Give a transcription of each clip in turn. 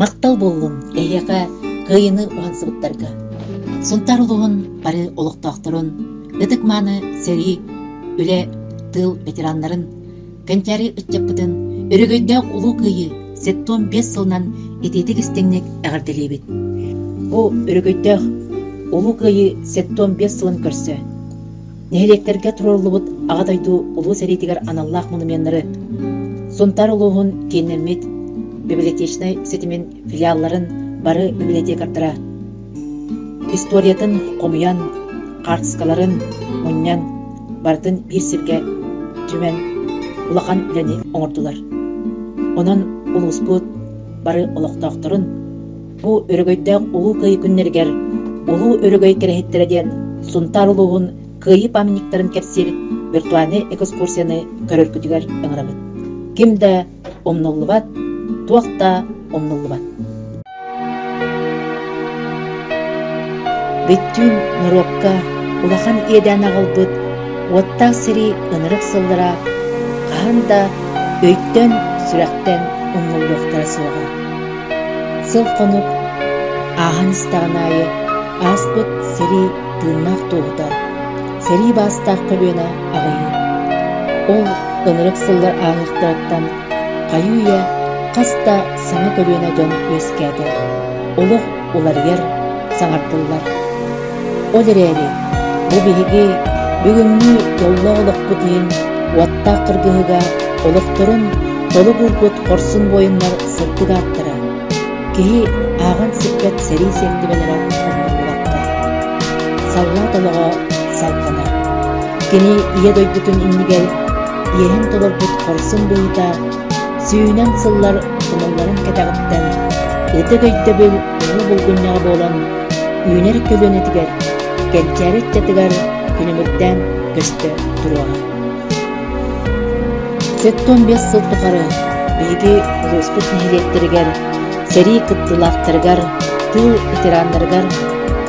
Махтал буоллун эһиэхэ кыайыыны уһансыбыттарга. Сунтаар улууһун бары олохтоохторун ытык-мааны сэрии, үлэ, тыыл ветераннарын, Кэнчээри ыччаппытын өрөгөйдөөх улуу кыайыы сет-том биэс сылынан итиитик истиҥник эҕэрдэлиибит. Бу өрөгөйдөөх улуу кыайыы сет-том биэс сылын көрсө нэһилиэктэргэ туруоруллубут Аҕа дойду Улуу сэриитигэр аналлаах монуменнары Сунтаар улууһун кииннэммит библиотечнай ситимин филиалларын бары библиотекардара историятын хомуйан, хаартыскаларын мунньан, барытын биир сиргэ түмэн, улахан үлэни оҥордулар. Онон улууспут бары олохтоохторун, бу өрөгөйдөөх Улуу Кыайыы күннэригэр Улуу өрөгөй кэрэһиттэрэ диэн Сунтаар улууһун кыайыы памятниктарын кэпсиир виртуальнай экскурсияны көрөргүтүгэр ыҥырабыт. Ким да умнуллубат, туох да умнуллубат. Бүттүүн норуокка улахан иэдээн аҕалбыт уоттаах сэрии ынырык сыллара хаһан да өйтөн, сүрэхтэн умнуллуохтара суоҕа. Сыл-хонук ааһан истэҕин аайы ааспыт сэрии тыыннаах туоһута, сэрии баастаах көлүөнэ аҕыйыыр. Ол ынырык сыллар ааһыахтарыттан хайыы-үйэ хас да саҥа көлүөнэ дьон үөскээтэ, олох уларыйар, саҥардыллар. Ол эрээри, бу биһиги бүгүҥҥү дьоллоох олохпут иһин уоттаах кыргыһыга олохторун толук уурбут хорсун буойуннар сырдык ааттара, киһи ааҕан-сиппэт сэрии сиэртибэлэрэ оннук улаатта. Саллаат олоҕо салҕанар. Кини Ийэ дойдутун иннигэр иэһин толорбут хорсун быһыыта сүүнэн сыллар хомулларын кэтэҕиттэн ытык өйдөбүл уһу булгунньаҕа буолан үүнэр көлүөнэтигэр кэнчээри ыччатыгар күнүмүрдээн көстө туруоҕа. Сэттэ уон биэс сыл тухары биһиги улууспут нэһилиэктэригэр сэрии кыттыылаахтарыгар, тыыл ветераннарыгар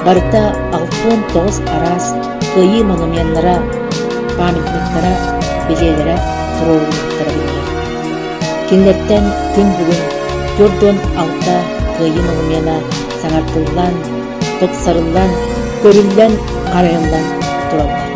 барыта алтан тоҕус араас кыайыы монуменнара, памятниктара, билиэлэрэ туруоруллубуттара биллэр. Кинилэртэн күн бүгүн 4 алта кыайыы монумена саҥардыллан, тупсарыллан, көрүллэн, харайыллан тураллар.